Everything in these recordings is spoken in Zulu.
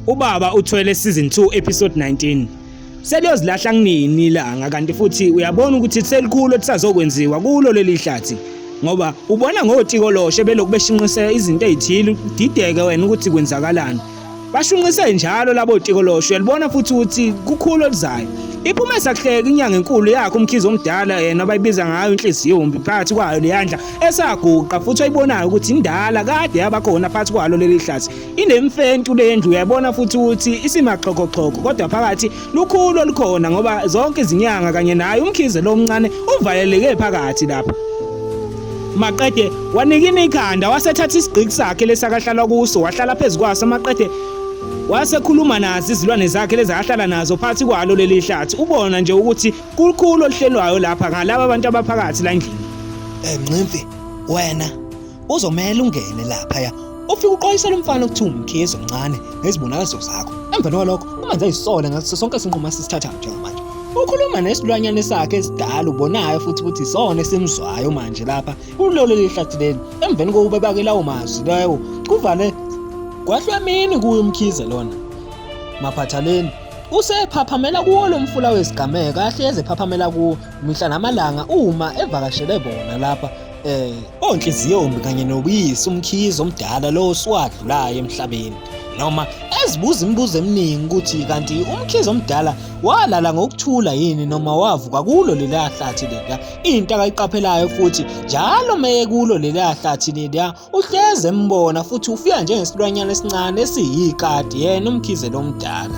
Ubaba uthwele season 2 episode 19. Seliyozilahla kunini ilanga kanti futhi uyabona ukuthi selikhulu ekusazokwenziwa kulo leli hlathi ngoba ubona ngotikoloshe belokubeshinqisela izinto ezithile dideke wena ukuthi kwenzakalani Bashunqise njalo labo tikolosho yalibona futhi ukuthi kukhulu okuzayo. Iphume sakuhleka inyanga enkulu yakhe umkhizo omdala yena abayibiza ngayo inhliziyo umbi phakathi kwayo leyandla esaguqa futhi ayibonayo ukuthi indala kade yabakhona phakathi kwalo leli hlathi. Inemfentu lendlu uyabona futhi ukuthi isimaxhokoxhoko kodwa phakathi lukhulu olukhona ngoba zonke izinyanga kanye naye umkhize lo omncane uvaleleke phakathi lapha maqede wanikina ikhanda wasethatha isigqiki sakhe lesakahlalwa kuso wahlala phezu kwaso maqede wasekhuluma nazi izilwane zakhe lezahlala nazo phansi kwalo leli hlathi ubona nje ukuthi kukhulu oluhlelwayo lapha ngalabo abantu abaphakathi la ndlini enqimfi wena Uzomela ungene laphaya ufike uqwayisela umfana ukuthi umkhizi omncane ngezibonakaliso zakho emva kwalokho ungenza isole ngaso sonke isinqumo asisithathayo njengamanje ukhuluma nesilwanyane sakhe esidala ubonayo futhi ukuthi isona esimzwayo manje lapha kulolo lihlathi leli emveni kokuba bake lawo mazwi lawo kuvale kwahlwemini kuyo umkhize lona maphathaleni usephaphamela kuwo lo mfula wesigameko ahlezi ephaphamela kuwo mihla namalanga uma evakashele bona lapha Eh, onhliziyombi kanye nobuyisi umkhizi omdala lo siwadlulayo emhlabeni. Noma ezibuza imibuzo eminingi ukuthi kanti umkhizi omdala walala ngokuthula yini noma wavuka kulo leliya hlathi leliya into akayiqaphelayo futhi njalo meye kulo leliya hlathi leliya uhleze embona futhi ufika njengesilwanyana esincane esiyikati yena umkhize lomdala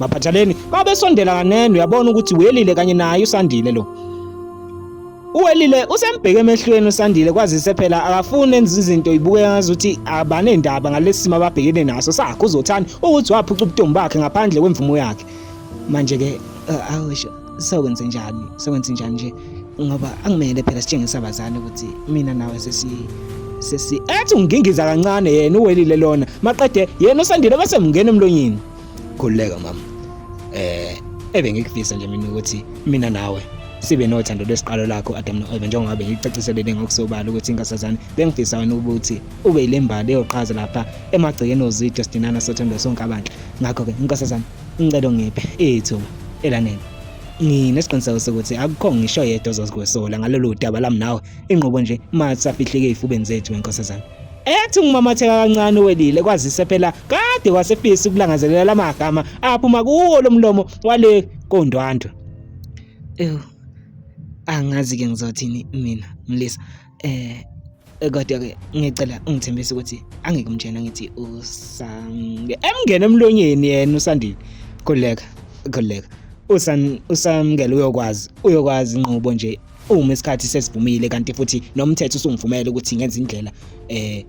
Maphathaleni babesondela kanene uyabona ukuthi welile kanye naye usandile lo. Uwelile usembheke emehlweni usandile kwazise phela akafuni enza izinto ibuke ngazuthi abanendaba ngalesimo ababhekene naso sakho uzothani ukuthi waphuca ubutombi bakhe ngaphandle kwemvumo yakhe. Manje ke eh, awusho sokwenze njani? Sokwenze njani nje? Ngoba angimele phela sitshengisa abazali ukuthi mina nawe sesi sesi ethi ungingiza kancane yena uwelile lona maqede yena usandile bese mngena emlonyeni khululeka mama eh ebengikufisa nje mina ukuthi mina nawe sibe nothando lwesiqalo lakho Adam noEva njengoba bengicaciselele ngokusobala ukuthi inkasazane bengifisa wena ukuthi ube ilembali eyoqhaza lapha emagcekeni ozitho sidinana sothando sonke abantu ngakho ke inkasazane ngicela ngiphe ithuba elanele nginesiqiniseko sokuthi akukho ngisho yedwa ozozikwesola ngalolu daba lami nawe inqobo nje mathi safihleke ey'fubeni zethu wenkosazane ethi ngumamatheka kancane uwelile kwazise phela kade wasefisa ukulangazelela lamagama aphuma kuwo lomlomo wale kondwandwe ew angazi ke ngizothini mina mlisa eh kodwa ke ngicela ungithembise ukuthi angeke umtshena ngithi usamke emngene emlonyeni yena usandile khuleka khuleka usan usamkele uyokwazi uyokwazi inqubo nje uma isikhathi sesivumile kanti futhi nomthetho usungivumela ukuthi ngenze indlela eh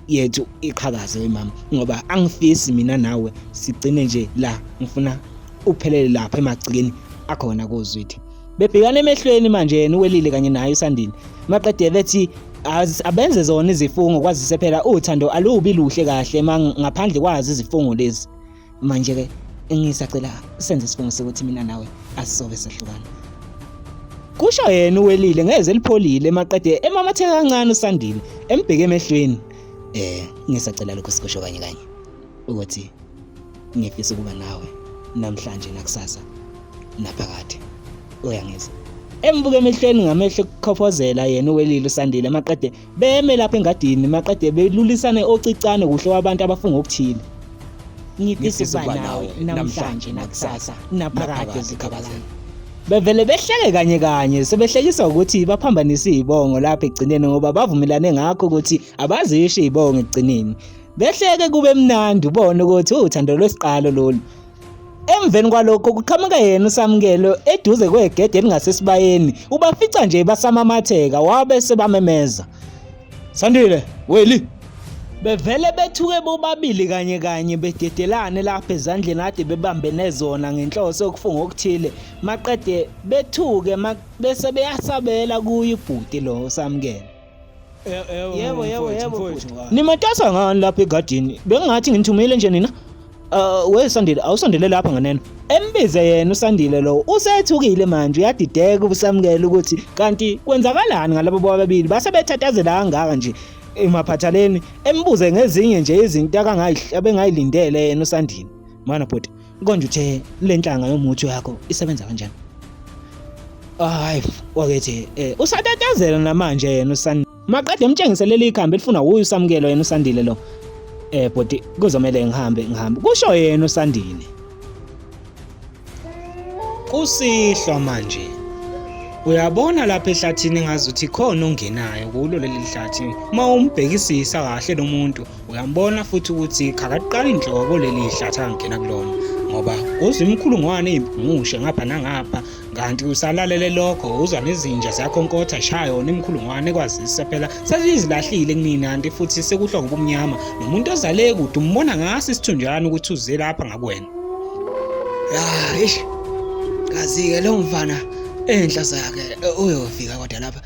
yethu iqhakaze wemama ngoba angifisi mina nawe sigcine nje la ngifuna uphelele lapha emagcikeni akhona kozwidi bebhekana emehlweni manje yena uwelile kanye naye usandile maqede bethi abenze zona izifungo kwazise phela uthando alubi luhle kahle ngaphandle kwazi izifungo lezi Manje-ke engisacela senze isifungo sokuthi mina nawe asisobe sehlukana kusho yena uwelile ngeze elipholile emaqede emamatheka kancane usandile embheke emehlweni eh ngisacela lokho sikusho kanye kanye ukuthi ngifisa ukuba nawe namhlanje nakusasa naphakade uyangizwa embuke emehlweni ngamehlo kukhofozela yena uwelile usandile amaqede Beme lapha engadini maqede belulisane ocicane kuhle wabantu abafunga okuthile. Ngifisa nawe namhlanje nakusasa naphakade zikhabalana. Bevele behleke kanye kanye sebehlekisa ukuthi baphambanise izibongo lapha egcineni ngoba bavumelane ngakho ukuthi abazisho izibongo egcineni. Behleke kube mnandi ubone ukuthi uthando lwesiqalo lolu. Emveni kwalokho kuqhamuka yena uSamkelo eduze kwegede elingasesibayeni ubafica nje basamamatheka wabe sebamemeza Sandile weli bevele bethuke bobabili kanye kanye bededelane lapha ezandleni ade bebambene zona ngenhloso yokufunga okuthile maqede bethuke bese beyasabela kuye ubhuti lo samkele Yebo yebo yebo. Nimatasa ngani lapha egadini? Bengingathi nginithumile nje nina. Uh, we Sandile awusondele lapha nganeno. Embize yena uSandile lo usethukile manje uyadideka ubusamukela ukuthi kanti kwenzakalani ngalabo bobabili base bethathazela kangaka nje emaphathaleni embuze ngezinye nje izinto akangayihlabe ngayilindele yena uSandile. Mana bhuti. Konje uthe le nhlanga yomuthi wakho isebenza kanjani? Hayi, wakethi eh usatatazela namanje yena usan maqede emtshengise leli ikhambi elifuna uyu samukelo yena usandile lo. Eh bhuti kuzomela ngihambe ngihambe. Kusho yena usandile. Kusihlwa manje. Uyabona lapha ehlathini ngazuthi khona ongenayo kulo leli hlathi. Uma umbhekisisa kahle lomuntu uyambona futhi ukuthi khakaqala inhloko leli hlathi angena kulona ngoba uzwa imikhulungwane eyibhumushe ngapha nangapha kanti usalalele lokho uzwa nezinja ziyakhonkotha shaya yona imikhulungwane ekwazisa phela sesizilahlile kunini kanti futhi sekuhlwa ngobumnyama nomuntu ozale kude umbona ngaso isithunjana ukuthi uze lapha ngakwena ya eish kazi-ke lo mfana enhla zakhe uyofika kodwa lapha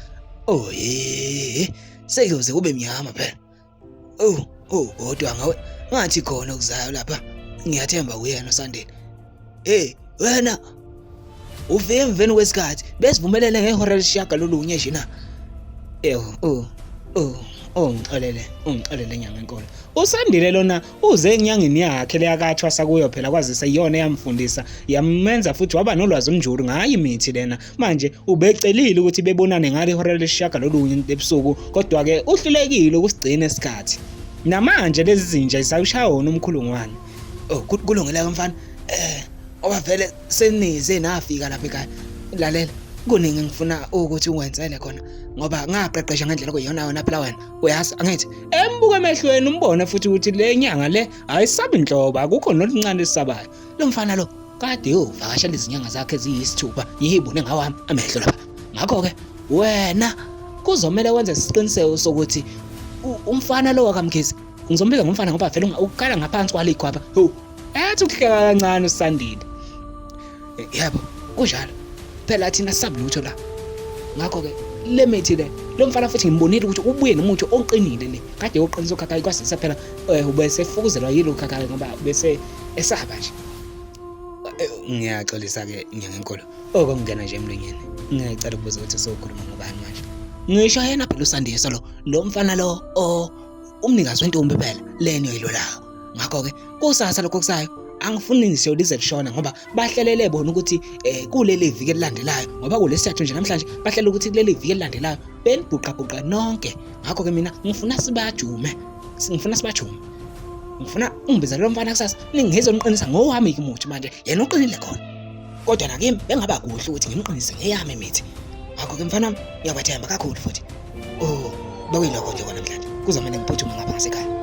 oye oh, seyoze kube mnyama phela Oh, oh, kodwa ngawe ngathi khona okuzayo lapha. Ngiyathemba kuyena Sandile. Hey, wena ufike emveni kwesikhathi besivumelele ngehora lesishaga lolunye nje na. Ew, oh, oh. ongixolele ungixolele nyanga enkolo usandile lona uze enyangeni yakhe leyakathwasa kuyo phela kwazise iyona eyamfundisa yamenza futhi waba nolwazi umnjulu ngayo imithi lena Manje ubecelile ukuthi bebonane ngale hora lesishiyagalolunye ebusuku kodwa-ke uhlulekile ukusigcina isikhathi. Namanje lezi zinja zisawushaya wona umkhulungwane. Oh, kulungile-ke mfana. Eh, oba vele senize nafika lapha ekhaya. Lalela, kuningi ngifuna ukuthi ungwenzele khona ngoba ngaqeqesha ngendlela okuyiyona yona phela wena uyazi angithi embuka emehlweni umbone futhi ukuthi le nyanga le ayisabi nhlobo akukho noluncane lisabayo lo mfana lo kade yovakashela izinyanga zakhe eziyisithupha yibone ngawami amehlo lapha ngakho-ke wena kuzomele wenze isiqiniseko sokuthi umfana lo wakamkhizi ngizombiza ngomfana ngoba vele ukukhala ngaphansi kwalikhwapha ho ethi ukuhleka kancane usandile yebo kunjalo phela thina sabulutho la ngakho ke le mithi le lo mfana futhi ngimbonile ukuthi ubuye nomuthi oqinile le kade yoqinisa ukhakhayi kwasise phela eh, ubese fukuzelwa yilo khakhayi ngoba bese esaba nje eh, ngiyaxolisa ke ngiyankolo oko oh, ngingena nje emlonyeni ngicela ukubuza ukuthi sokhuluma ngobani manje ngisho yena phela usandiso lo lo mfana lo o oh, umnikazi wentombi phela leni oyilolayo ngakho ke kusasa lokho kusayo angifuni ngisho lize lishona ngoba bahlelele bona ukuthi eh kuleli viki elilandelayo ngoba kulesithathu nje namhlanje bahlela ukuthi kuleli viki elilandelayo benibhuqabhuqa nonke ngakho ke mina ngifuna sibajume Ngifuna sibajume. Ngifuna ungibiza lo mfana kusasa ningizwe ngiqinisa ngowami umuthi manje yena uqinile khona. Kodwa nakimi bengaba kuhle ukuthi ngimqinise ngeyami imithi. Ngakho ke mfana wami ngiyabathemba kakhulu futhi. Oh, bekuyilokho nje kona mdlali. Kuzomele ngiphuthume ngapha ngasekhaya.